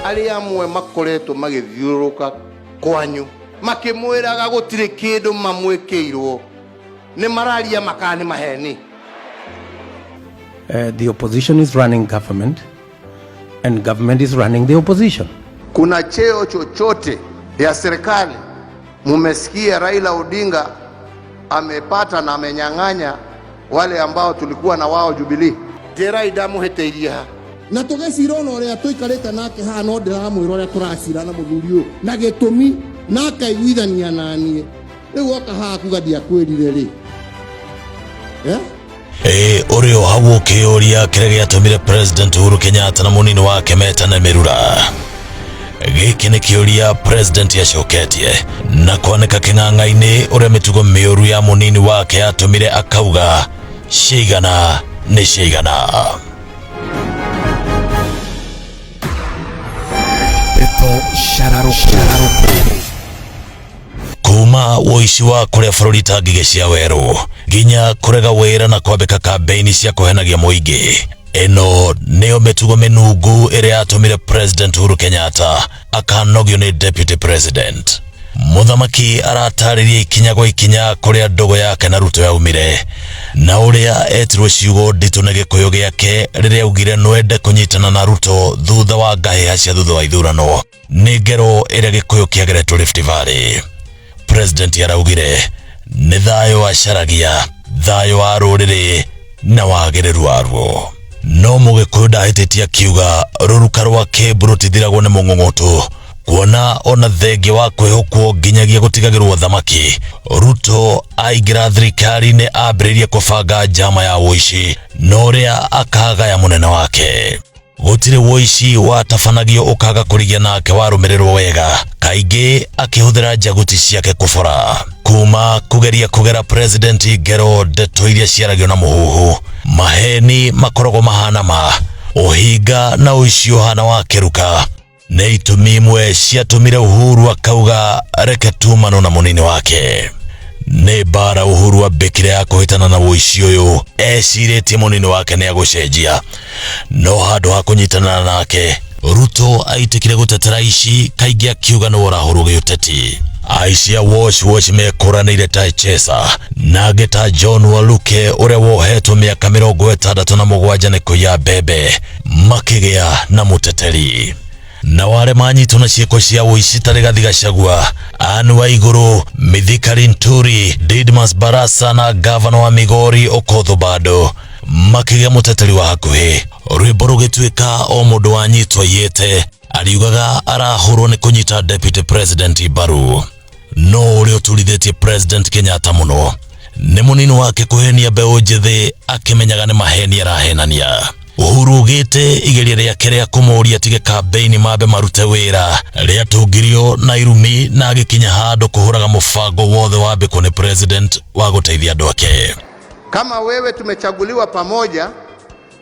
arĩa amwe makoretwo magĩthiũrũrũka kwanyu makĩmwĩraga gũtirĩ kĩndũ mamwĩkĩirwo nĩ mararia makaa nĩ maheni Uh, the opposition is running government, and government is running the opposition. kuna cheo chochote ya serikali mumesikia raila odinga amepata na amenyang'anya wale ambao tulikuwa na wao Jubilee njĩra indamuhĩtĩirie ha na tũgĩcira ona ũrĩa tũikarĩte nake haha no ndĩramwĩra ũrĩa tũracira na mũthuri ũyũ na gĩtũmi na akaiguithania na niĩ rĩu oka haha kuga ndiakwĩrire rĩ eh? Ĩ, ũrĩ o hau ũkĩyũria kĩrĩa gĩatũmire president uhuru kenyatta na mũnini wake metane mĩrura gĩkĩ nĩ kĩũria president acoketie na kwanĩka kĩng'ang'a-inĩ ũrĩa mĩtugo mĩũru ya mũnini wake yatũmire akauga ciigana nĩ ciigana Pepo Shararoko. Shararoko. kuma woici wa kũrĩa bũrũri ta ngigĩ cia werũ nginya kũrega wĩra na kwambĩka kambeini cia kũhenagia mũingĩ ĩno nĩyo mĩtugo mĩnungu ĩrĩa yatũmire president uhuru kenyatta akanogio nĩ deputy president mũthamaki aratarĩria ikinya gwa ikinya kũrĩa ndogo yake na ruto yaumire na ũrĩa etirwo ciugo nditũ nĩ gĩkũyũ gĩake rĩrĩa augire nwende kũnyitana na ruto thutha wa ngahĩha cia thutha wa ithurano nĩ ngero ĩrĩa gĩkũyũ kĩageretwo Rift Valley president araugire nĩ thayũ wacaragia thayũ wa rũrĩrĩ na wagĩrĩru waruo no mũgĩkũyũ ndahĩtĩtie akiuga rũruka rwa kĩmbu rũtithiragwo nĩ mũng'ũng'ũtũ kuona ona thengia wa kwĩhũkwo nginyagia gũtigagĩrwo thamaki ruto aingĩra thirikari-inĩ ambĩrĩirie kũbanga njama ya ũici na ũrĩa akagaya mũnene wake gũtirĩ woici watabanagio ũkaga kũrigia nake warũmĩrĩrwo wega kaingĩ akĩhũthĩra njaguti ciake kũbora kuma kũgeria kũgera president ngero ndeto iria ciaragio na mũhuhu maheni makoragwo mahana ma ũhinga na ũici ũhana wa kĩruka nĩ itũmi imwe ciatũmire Uhuru akauga reke tumano na mũnini wake nĩ mbara Uhuru ambĩkire ya kũhĩtana na ũici ũyũ ecirĩtie mũnini wake nĩ agũcenjia no handũ ha kũnyitana nake Ruto aitĩkire gũtetera ici kaingĩ akiuga nĩ ũrahũrwo gĩũteti aici a wash wash mekũranĩire ta Chesa na angĩ ta John Waluke ũrĩa wohetwo mĩaka mĩrongo ĩtandatũ na mũgwanja nĩ kũiya mbembe makĩgĩa na mũteteri na wale manyitwo na ciĩko cia ũici tarĩ gathi gacagua Anne wa igũrũ mithikari nturi didmas barasa na gavana wa migori okotho bado makĩgĩa mũteteri wa hakuhĩ rwĩmbo rũgĩtuĩka o mũndũ wanyitwo iyĩte ariugaga arahũrwo nĩ kũnyita deputy president mbaru no ũrĩa ũturithĩtie president kenyatta mũno nĩ mũnini wake kũhenia mbeũ njĩthĩ akĩmenyaga nĩ maheni arahenania uhuru ugĩte igeria rĩake rĩa kũmũria tige kambeini mambe marute wĩra rĩatungirio na irumi na agĩkinya handũ kũhũraga mũbango wothe wa mbĩkũ nĩ president wa gũteithia andũ ake Kama wewe tumechaguliwa pamoja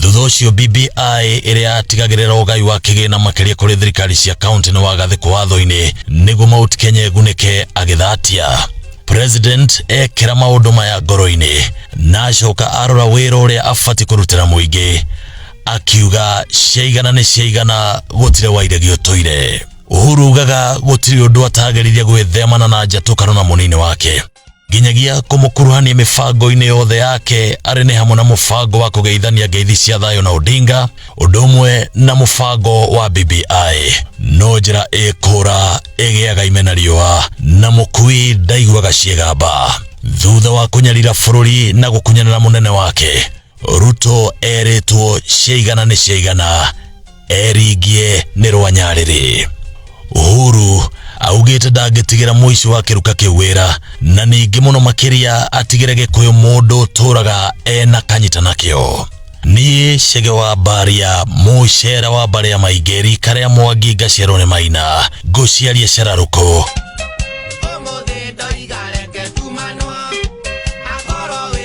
thutha ũcio BBI ĩrĩa yatigagĩrĩra ũgai wa kĩgĩna makĩria kũrĩ thirikari cia kaunti nĩ wagathĩkwo watho-inĩ nĩguo Mount Kenya ĩgunĩke agĩthatia president ekĩra maũndũ maya ngoro-inĩ na acoka arora wĩra ũrĩa abatiĩ kũrutĩra mũingĩ akiuga ciaigana nĩ ciaigana gũtirĩ wairegi ũtũire uhuru ugaga gũtirĩ ũndũ atageririe gwĩthemana na njatũkano na mũnini wake nginyagia kũmũkuruhania mĩbango-inĩ yothe yake arĩ nĩ hamwe na mũbango wa kũgeithania ngeithi cia thayũ na Odinga ũndũ ũmwe na mũbango wa BBI no njĩra ĩkũra ĩgĩaga ime na riũa na mũkui ndaiguaga ciĩgamba thutha wa kũnyarira bũrũri na gũkunyanĩra mũnene wake ruto erĩtwo ciaigana nĩ ciaigana eringie nĩ rwanyarĩrĩ uhuru augĩte ndangĩtigĩra mũici wa kĩruka kĩu wĩra na ningĩ mũno makĩria atigĩre gĩkũyũ mũndũ ũtũraga ena kanyita nakĩo niĩ cege wa mbaria mũcera wa mbarĩa maingĩ rika rĩa mwangi ngaciarwo nĩ maina ngũciaria cararũkũ